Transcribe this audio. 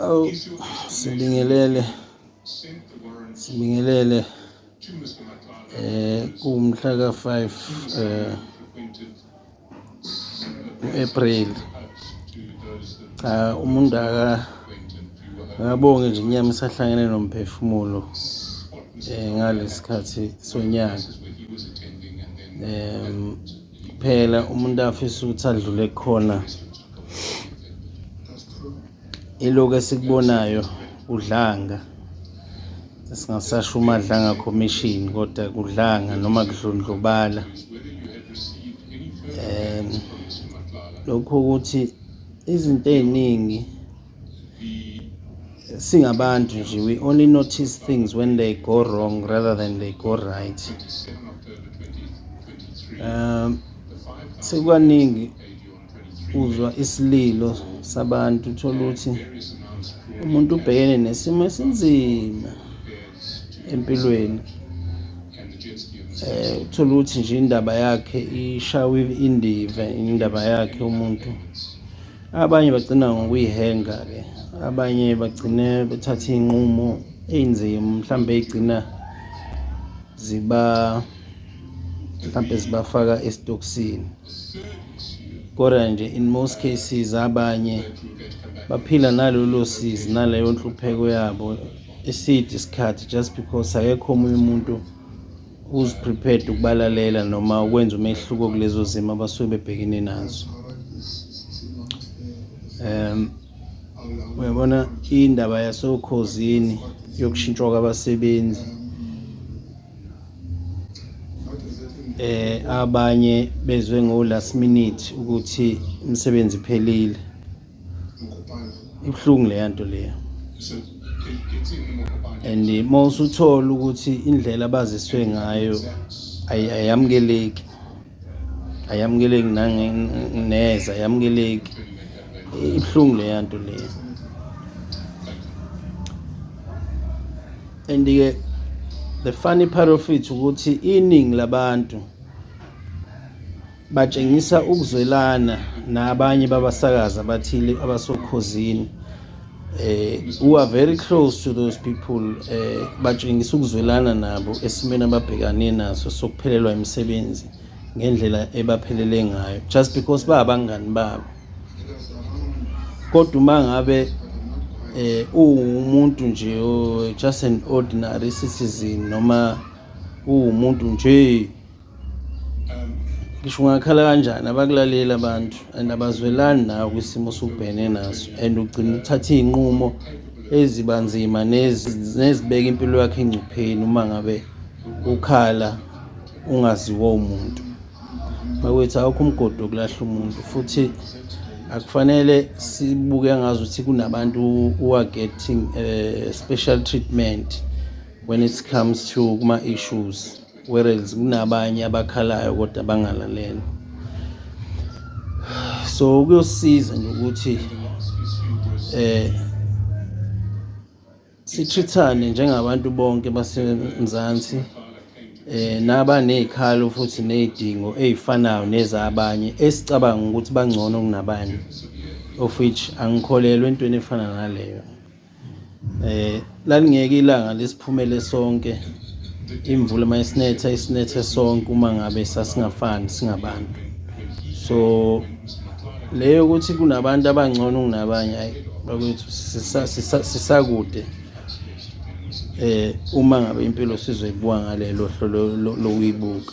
Awu sibingelele sibingelele eh kumhla ka 5 eh April cha umuntu aka ngabonge nje inyama isahlangene nomphefumulo eh ngalesikhathi sonyaka um Phela umuntu afisa ukuthi adlule khona ilokhu esikubonayo kudlanga singasasho umadlanga commission kodwa kudlanga noma kudlondlobala um lokhu ukuthi izinto ey'ningi singabantu nje we only notice things when they go wrong rather than they go right um sekukaningi uzwa isililo sabantu uthola ukuthi umuntu ubhekene nesimo esinzima empilweni eh uthola ukuthi nje indaba yakhe ishawe indiva indaba yakhe umuntu Abanye bagcina ngokuyihenga-ke, abanye bagcine bethatha iy'nqumo ey'nzima mhlawumbe ey'gcina ziba mhlawumbe zibafaka esitokisini kodwa nje in most cases abanye baphila nalolo sizi naleyo nhlupheko yabo eside isikhathi just because akekho omunye umuntu who's prepared ukubalalela noma ukwenza umehluko kulezo zimo abasuke bebhekene nazo um uyabona indaba yasokhozini yokushintshwa kwabasebenzi eh abanye bezwe ngo last minute ukuthi umsebenzi phelile ibuhlungu leya nto leya and uma usuthola ukuthi indlela abaziswe ngayo ayamukeleki ayamukeleki neza ayamukeleki ibuhlungu leya nto leya and-ke the funny part of it ukuthi iningi labantu Batshengisa ukuzwelana nabanye babasakazi abathile abasokhozini eh who are very close to those people eh batshengisa ukuzwelana nabo esimeni ababhekane naso sokuphelelwa imisebenzi ngendlela ebaphelele ngayo just because babangani babo kodwa uma ngabe eh uwumuntu nje just an ordinary citizen noma uwumuntu nje ngisho ungakhala kanjani abakulaleli abantu and abazwelani nawe kwisimo osubhene naso and ugcina uthatha iy'nqumo ezibanzima nezibeka impilo yakho engcupheni uma ngabe ukhala ungaziwa umuntu bakwethu awukho umgodi wokulahla umuntu futhi akufanele sibuke ngazi ukuthi kunabantu who are getting uh, special treatment when it comes to kuma-issues Whereas kunabanye abakhalayo kodwa bangalalelwa. So kuyosiza nje ukuthi eh sithrithane njengabantu bonke baseMzansi eh naba nezikhalo futhi nezidingo ezifanayo nezabanye esicabanga ukuthi bangcono kunabanye of which angikholelwa entweni efana naleyo eh lalingeke ilanga lesiphumele sonke imvula uma isinetha isinethe sonke uma ngabe sasingafani singabantu so leyo ukuthi kunabantu abangcono kunabanye ayi bakwethu sisakude eh uma ngabe impilo sizoyibuka ngalelo hlo lokuyibuka